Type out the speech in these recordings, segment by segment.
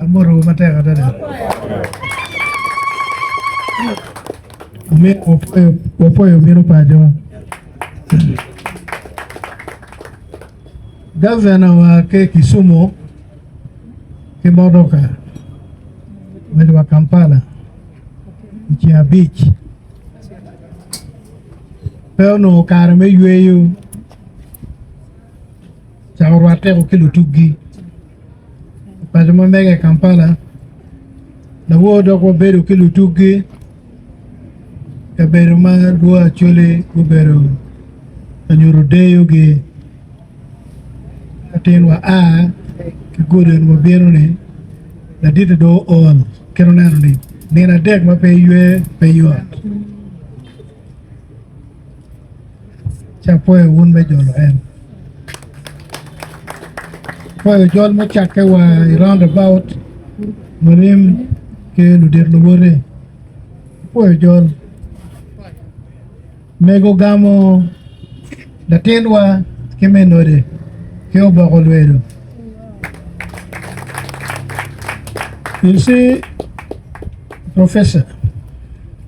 Amotowu matek adada. Amin, wapwoyo wapwoyo bino paco. Gavana wa ke Kisumu ki motoka medo wa Kampala i ceng abic. Pe onongo kare me yweyo ca orwat teko ki lutuggi i paco ma mege i Kampala lawo dok wabedo ki lutuggi kabedo ma lwo Acholi gubedo ka nyuto deyogi ka tin wa a ki gudi eni wabino ni laditi do ool kit oneno ni nino adek ma pe ywe pe yot ci apwoyo wun me jolo en apwoyo jol mucakke wa i round about mulim ki ludit luwote apwoyo jol mego gamo latinwa ki me node ki oboko lwedo you see professor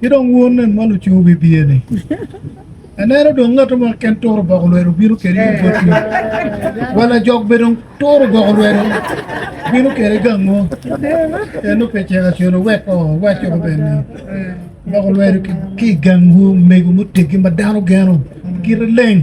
Ki dong wun nen ma lucu bibye-ni, aneno dong ngat mo keken turo boko lwedo bino kede i botwu, wa lajok bene dong turo boko lwedo bino kede gango? En dong pe cek acel owek oo, owacci ko bene ni, Boko lwedo ki i gangwu omego muteggi ma dano geno kite leng.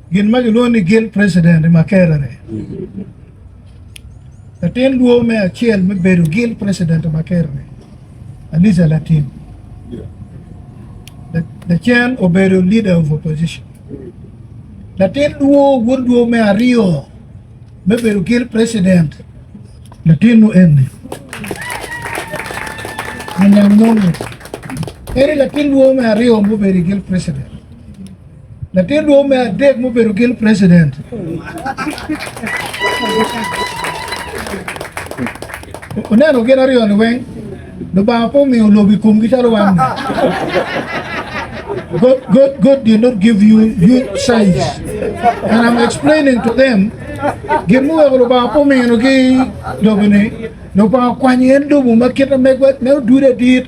Gin ma gilwongo ni Guild President i Makerere. Latin lwor me acel me bedo Guild President i Makerere, Aliza Latin. Lacen obedo Leader of Opposition. Latin lwor wod lwor me aryo me bedo Guild President, latin nu eni. Anyang Mongo. Eri latin lwor me aryo mubedo Guild President. Latin dwou me adek mubedo gil president. Oneno gin aryo ni weng, Lubanga po miyo lobi kumgi calo wan. God, God, God did not give you you size. And I'm explaining to them, gin muweko Lubanga po mino ki lobi ni, Lubanga kwanyo en lobo ma kit na megwa, me odude dit,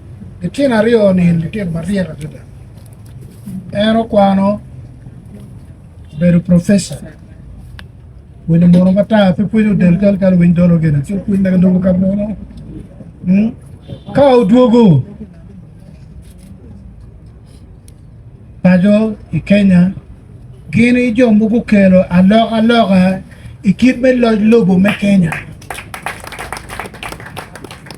Litino aryo-ni litino maryek adada. En okwano obedo profesa. Winyo mono matar pe pwonyo del kal kal winy dolo gene. Ci opwony naka dogo ka mono. Hmm? Ka odwogo paco i Kenya, gini jo mogo kelo alok aloka i kit me loc lobo me Kenya.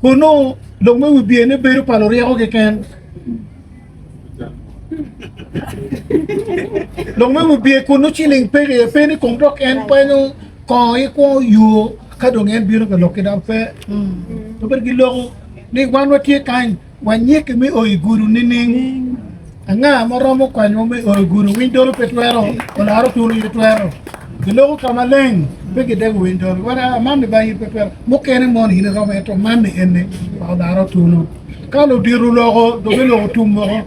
Kun nongo lok me wi biyene bedo pa luryeko keken. Lok me wi biye kun nongo ciling pe iye, pe ni kom dok en kwenyo kongo ki kwo yo ka dong en bino ka lok ki dok pe. Obedo ki loko ni wan watye kany. Wanyiki me o i gudo nining? Anga ma romo konyowa me o i gudo? Winy dolo pe twero, olaro turu aye twero. Giloko ka maleng, pe gidego winy dolo. Wan a mammi ba in pe twero. Mukene mono in iromo aye to mammi enne ma olaro tunu. Ka ludito oloko, dobe loko tum moko.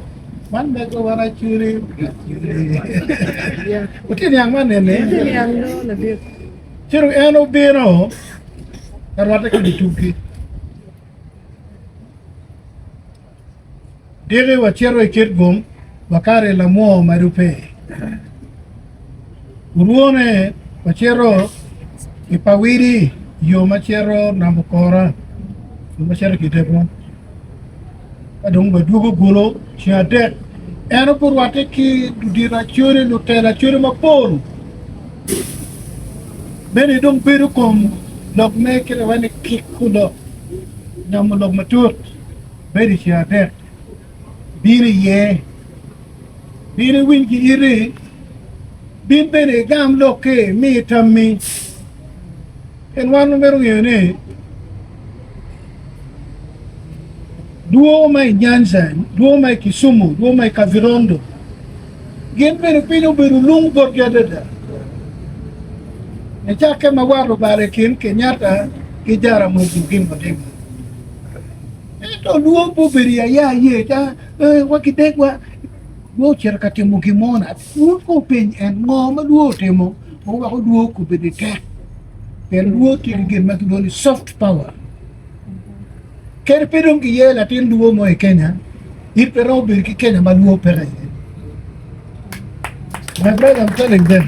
Man mego wan aculi. Wutye niang man enne? Ciro en obino, arwate ki dye tubgi. Tiki wacito i kit gum, wakato i lamwoo ma rubbe. Orwone wacito i pawidi yo ma cito namba okora yo ma cito ki debbo. Ka dong wadwogo gulu ceng adek en ogurwatte ki ludito acodi lutela acodi mapol. Mene dong bedo kom lok me kite wene kik olok nyomo lok matut bedo i ceng adek bino iye, bino iwiny ki iti, bin bene igam lokki mi itammi. Pien wan wamito ngeyo ni dwogo ma i Nyanza, dwogo ma i Kisumu, dwogo ma i Kavirondo, Gin bene piny obedo lung botgi adada, nicakke ma wat obalo i kin Kenyatta ki Jaramogi Oginga Odinga. Ento lwong pe obedo i aya aye ca, ee wa gidegwa, dong ocito ka timo gin mo na. Wun ko wupeny en ngo ma lwor otimo ma weko lwor obedo i tek? Pien lwor tye ki gin ma kilwongo ni soft power. Kadi pe dong giye latin luo mo i Kenya, in pe iromo bedo ki Kenya ma luo peke iye. My brother, I'm telling them.